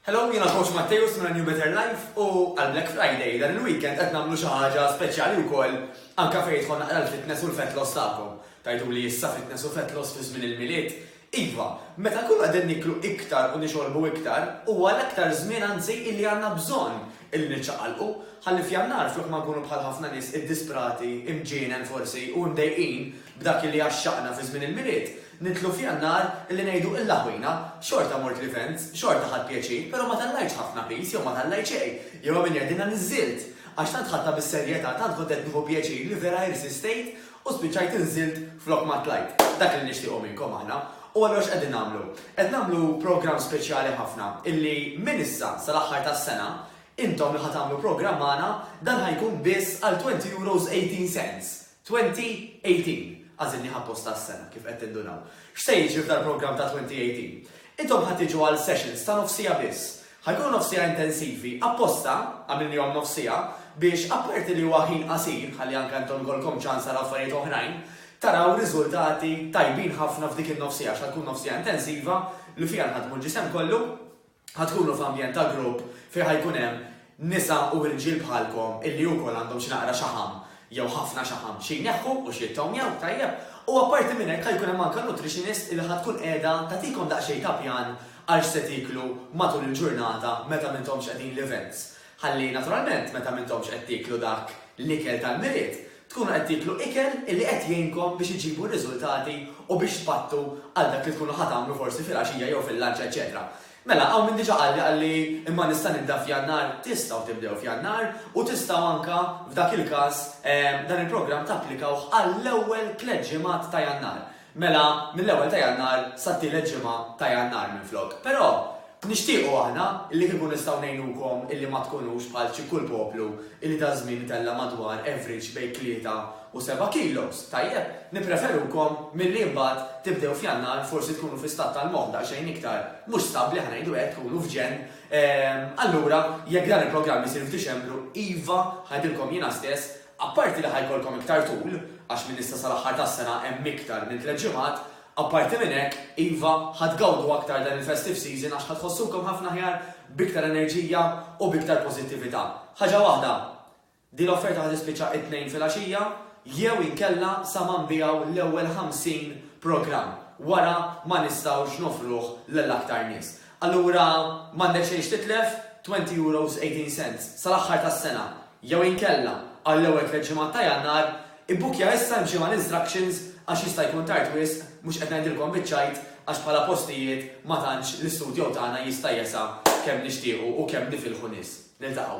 Hello, jiena Coach Matteus minn New Better Life u għal Black Friday dan il-weekend qed nagħmlu xi ħaġa speċjali wkoll anke fejn jidħol naqra l-fitness u l-fat loss tagħkom. Tgħiduli issa fitness u fat loss fi żmien il-Milied? Iva, meta nkunu qegħdin niklu iktar u nixorbu iktar, huwa l-aktar żmien anzi illi għandna bżonn illi niċċaqalqu, ħalli f'Jannar flok ma nkunu bħal ħafna nies iddisprati, imġienen forsi u mdejqin b'dak illi għaxxaqna fi żmien il-Milied, Nidħlu f'Jannar, li ngħidu illa ħwina, xorta mort l-events, xorta ħadt pjaċir, però ma tellajtx ħafna piż jew ma tellajt xejn, jew għamilt jgħidilna niżżilt! Għax tant ħadtha bis-serjetà, tant kont qed nieħu pjaċir li vera irsistejt u spiċċajt inżilt flok ma tlajt. Dak li nixtiequ minnkom aħna. U allura x'qegħdin nagħmlu? Qed nagħmlu programm speċjali ħafna illi minn issa sal-aħħar tas-sena, intom li ħa tagħmlu programm magħna, dan ħa jkun biss għal twenty euros eighteen cents! 2018, għażilnih apposta għas-sena, kif qed tindunaw. X'se jiġri f'dal-programm ta' 2018? Intom ħa tiġu għal sessions ta' nofs siegħa biss. Ħa jkunu nofs siegħa intensivi, apposta, għamilnihom nofs siegħa, biex, apparti li huwa ħin qasir, ħalli anke intom ikollkom ċans taraw affarijiet oħrajn, taraw riżultati tajbin ħafna f'dik in-nofs siegħa, għax ħa tkun nofs siegħa intensiva li fiha nħaddmu l-ġisem kollu. ħa tkunu f'ambjent ta' grupp fejn ħa jkun hemm nisa u irġiel bħalkom illi wkoll għandhom xi naqra xaħam jew ħafna xaħam xi jneħħu u xi jittownjaw, tajjeb. U apparti minn hekk ħa jkun hemm anke nutritionist illi ħa tkun qiegħda tagħtikom daqsxejn ta' pjan għal x'se tieklu matul il-ġurnata meta m'intomx qegħdin l-events. Ħalli naturalment meta m'intomx qed tieklu dak l-ikel tal-Milied, tkunu qed tieklu ikel li qed jgħinkom biex iġġibu r-riżultati u biex tpattu għal dak li tkunu ħa tagħmlu forsi filgħaxija jew fil-lunch eċċetera. Mela, hawn min diġà qalli qalli imma nista' nibda f'Jannar, tistgħu tibdew f'Jannar u tistgħu anke f'dak il-każ dan il-programm tapplikawh għall-ewwel tliet ġimgħat ta' Jannar. Mela, mill-ewwel ta' Jannar sat-tielet ġimgħa ta' Jannar minflok. Però, nixtiequ aħna li kieku nistgħu ngħinukom illi ma tkunux bħal xi kull poplu illi daż-żmien itella' madwar average bejn tlieta u seba' kilos, tajjeb, nippreferukom milli imbagħad tibdew f'Jannar forsi tkunu fi stat tal-moħħ daqsxejn iktar mhux stabbli ħa ngħidu hekk, tkunu f'ġenn. Allura, jekk dan il-programm isir f'Diċembru, iva, ħa ngħidilkom jiena stess, Apparti li ħa jkollkom iktar tul, għax minn issa sal-aħħar tas-sena hemm iktar minn tliet ġimgħat, apparti minn hekk, iva, ħa tgawdu aktar dan il-festive season għax ħa tħossukom ħafna aħjar, b'iktar enerġija u b'iktar pożittività. Ħaġa waħda, din l-offerta ħa tispiċċa t-Tnejn filgħaxija jew inkella sa ma nbiegħu l-ewwel 50 programm wara ma nistgħux noffruh lil aktar nies. allura m'għandek xejn x'titlef, twenty euros eighteen cents, sal-aħħar tas-sena, jew inkella, għall-ewwel tliet ġimgħat ta' Jannar, ibbukkja issa imxi mal-instructions għax jista' jkun tard wisq, mhux qed ngħidilkom biċ-ċajt għax bħala postijiet ma tantx l-istudjow tagħna jista' jesa' kemm nixtiequ u kemm nifilħu nies. Niltaqgħu.